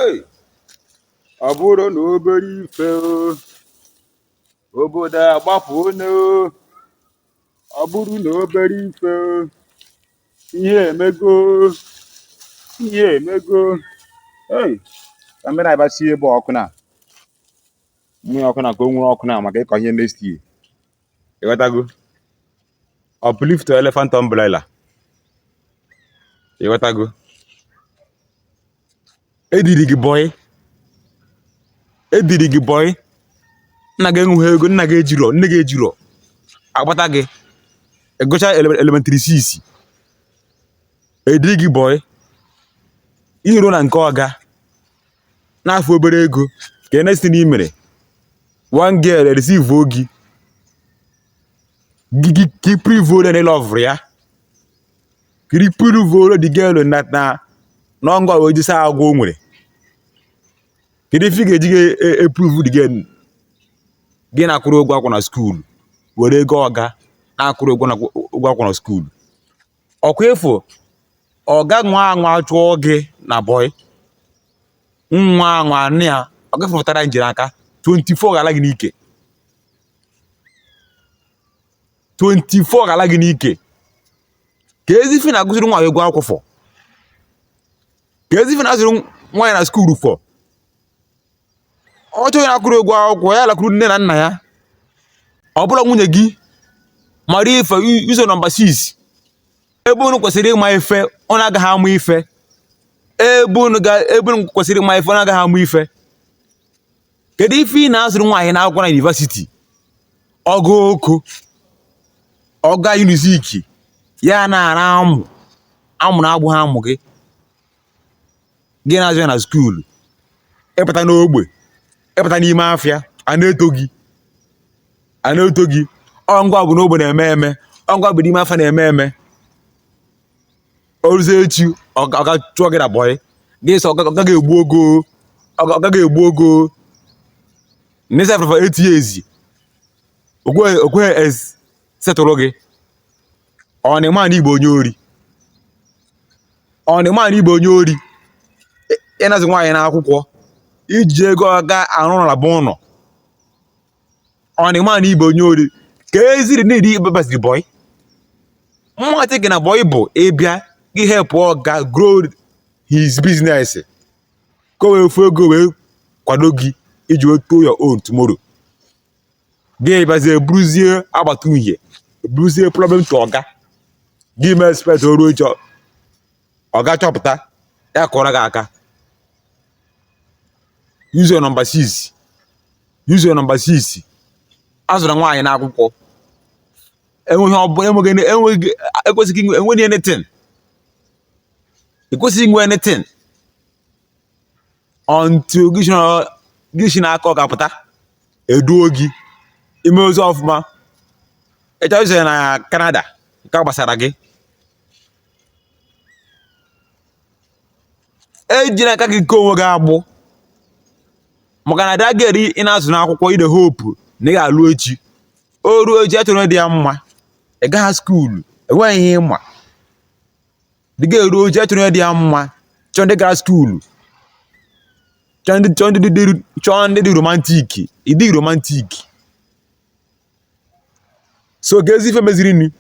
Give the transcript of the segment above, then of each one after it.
Hey! ọ bụrụ na obere ife o, obodo agbapụ one o ọ bụrụ na obere ife o, ihe emego ihe emego ei ka mmiri aba sie ebe ọkụ na mmiri ọkụ na ka o nwere ọkụ na maka ịkọ ihe next year ịghọtago uplift elephant umbrella ịghọtago ediri gị bọyị ediri gị bọyị nna gị enweghị ego nna gị ejirọ nne gị ejirọ akpọta gị ịgụcha elementịrị sis ediri gị bọyị iru na nke ọga na-afụ obere ego ka next thing imere one girl receive ọ gị gị pruvuo na ịlọvụrụ ya ka ị pruvuoro the girl na na n'ọngọ wee jisa agwọ o nwere kedu ife ị ga-eji epruvu the girl gị na-akwụrụ ụgwọ akwụkwọ na skuulu were ego ọga na-akwụrụ ụgwọ akwụkwọ na skuulu ọkwa ịfụ ọga nwa anwa chụọ gị na bọị nwa anwa nne ya ọ gafepụtara njiri aka 24 gala gị n'ike 24 gala gị n'ike kezi ife ị na-akwụzịrị nwaanyị ụgwọ akwụkwọ fọ kezi ife ị na-azụrụ nwaanyị na skuulu fọ ọ chọọ onye na-akwụrụ ụgwọ akwụkwọ ya lakwuru nne na nna ya ọ bụla nwunye gị mara ife use your nọmba 6 ebe unu kwesịrị ịma ife unu agaghị ama ife ebe unu kwesịrị ịma ife unu agaghị ama ife kedu ife ị na-azụrụ nwaanyị na akwụkwọ na yunivasiti ọ ga Oko ọ ga Unizik ya na-ara amụ amụ na-abụghị amụ gị gị na-azụ ya na skuulu ịpụta n'ogbe ịpụta n'ime afịa a na-eto gị a na-eto gị ọngwa bụ n'ogbe na-eme eme ọngwa bụ n'ime afịa na-eme eme oruzie echi ọga chụọ gị na bọyị gị sị ọga gị egbuo gị o ọga gị egbuo gị o na ị serve for eight years o kweghị setụrụ gị ọ na ịma na ị bụ onye ori ọ na ịma na ị bụ onye ori ị na-azụ nwaanyị n'akwụkwọ iji ego ọga arụ ụlọ bụ ụlọ ọ na ịma na ị bụ onye ori ka eziri na-eri ịbabaziri bọị mbata gị na bọị bụ ịbịa gị hepụ ọga grow his business ka o wee fụ ego wee kwado gị iji wee do your own tomorrow gị bịazie bụrụzie ọgbata uhie bụrụzie problem to ọga gị mee expect oruo echi ọga chọpụta ya kụọrọ gị aka use your number 6 use your number 6 azụla nwaanyị n'akwụkwọ enweghị ọbụla enweghị enweghị ekwesịghị inwe enweghị anything i kwesịghị inwe anything until gị si na- gị si n'aka ọga apụta e duo gị i mezie ọfụma ị chọọ iso ya na Canada nke a gbasara gị ejina aka gị eke onwe gị agbụ maka na that girl ị na-azụ n'akwụkwọ with the hope na ị ga-alụ echi o ruo echi achọrọ dị ya mma ị gaghị skuulu enweghị ihe ị ma dị ga-eru echi achọrọ dị ya mma chọọ ndị gara skuulu chọọ ndị chọọ ndị dị chọọ ndị dị romantic ị dị romantic so kezi ife meziri ni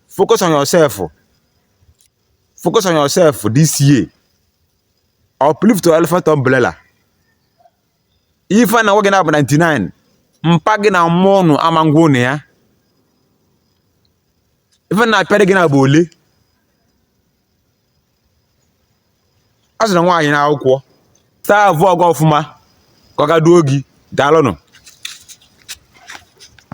focus on yourself focus on yourself this year uplift your elephant umbrella ife na nwoke na-abụ 99 mpa gị na mmụọ ụnụ ama ngwa ụnụ ya ife na-apịarị gị na-abụ ole azụna nwaanyị n'akwụkwọ savụọ ọga ọfụma ka ọga duo gị daalụnụ